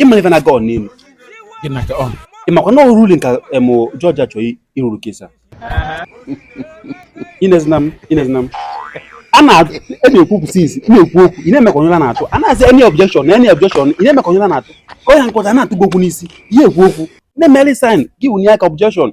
ịmara ife na-aga n'elu ịmakwa na ọ ruling ka em judge a chọọ ịrule case a inezina m inezina m a na-ekwu e since na-ekwu okwu ị na-eme ka onye na-atụ a na-asị any objection na any objection ị na-eme ka onye na-atụ ka ọ ya nkọta na-atụ gị okwu n'isi ihe ekwu okwu na-emeli sign gị wụnye aka objection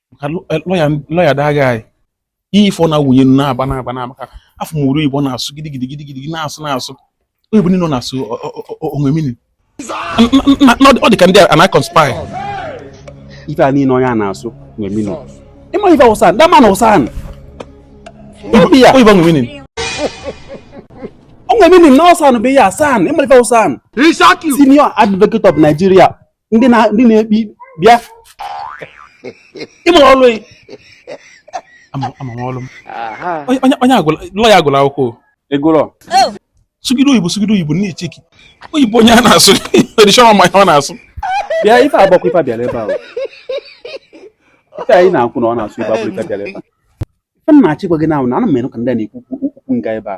lawyer that guy ife ọ na-awụnye nnu na-aba na-aba na maka afọ mụrụ Igbo na-asụ gidigidi gidigidi na-asụ na-asụ oyibo niile na-asụ o nwe meaning ọ dị ka ndị a na-aconspire ife a niile onye a na-asụ o nwe meaning ịma ife a wụ SAN that man ọ SAN oyibo o nwe meaning o nwe meaning na ọ SAN bụ ihe a SAN ịma ife a wụ SAN senior advocate of Nigeria ndị na-ekpe ikpe bịa ịma ọlụ ama ọlụ m onye lawyer agụla akwụkwọ egụlọ sụgide oyibo sụgide oyibo nne cheki oyibo onye a na-asụ edition ma ọ na-asụ bịa ife agbakwa ife a bịara ebe ahụ ife anyị na-akwụ na ọ na-asụ ife abụrụ ife a bịara ebe a ife m na-achịkwa gị na ahụ na ana m anụ ka ndị a na-ekwu okwu nga ebe a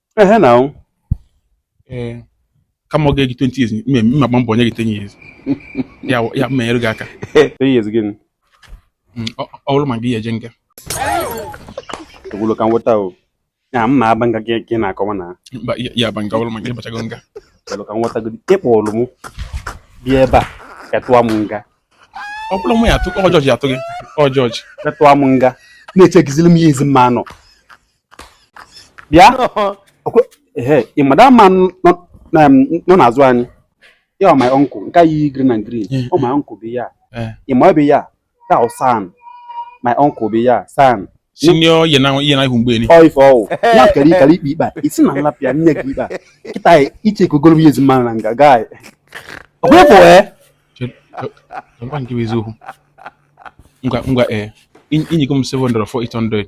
ehe na ahụ ee kama ọ ga-eji 20 years mme m ma agba mbọ nye gị 10 years ya ya mma nyere gị aka 10 years gịnị mm, ọ bụrụ ma gị ya eje nga ogwulo ka m weta o ya mma aba nga gị na-akọwa na mụ ya aba nga ọ bụrụ ma gị bachago nga ogwulo ka m weta gị ịkpọrọ m bịa ebe a ka tụọ m nga ọ bụrụ mụ ya atụ ọ judge atụ gị ọ judge ka tụọ m nga na-echekiziri m ihe ezi mma anọ bịa ị mada ama nọ n'azụ anyị ya ọ my uncle nke a yiyi green and green ọ my uncle bụ ya ị ma ọ bụ ya ta ọ san my uncle bụ ya san senior yɛ na yɛ na ihu mgbe ni. ɔyi fɔ o n'a kɛra i kari ikpe ba i ti na nla pia ne k'i ba i ta ye i cɛ ko golo bi ye zuma na nka gaa ye o ko fɔ ɛ. jɔnba n k'i bɛ zo nga nga ɛ i ɲiginmu sɛbɛn dɔrɔn fɔ i tɔn dɔ ye.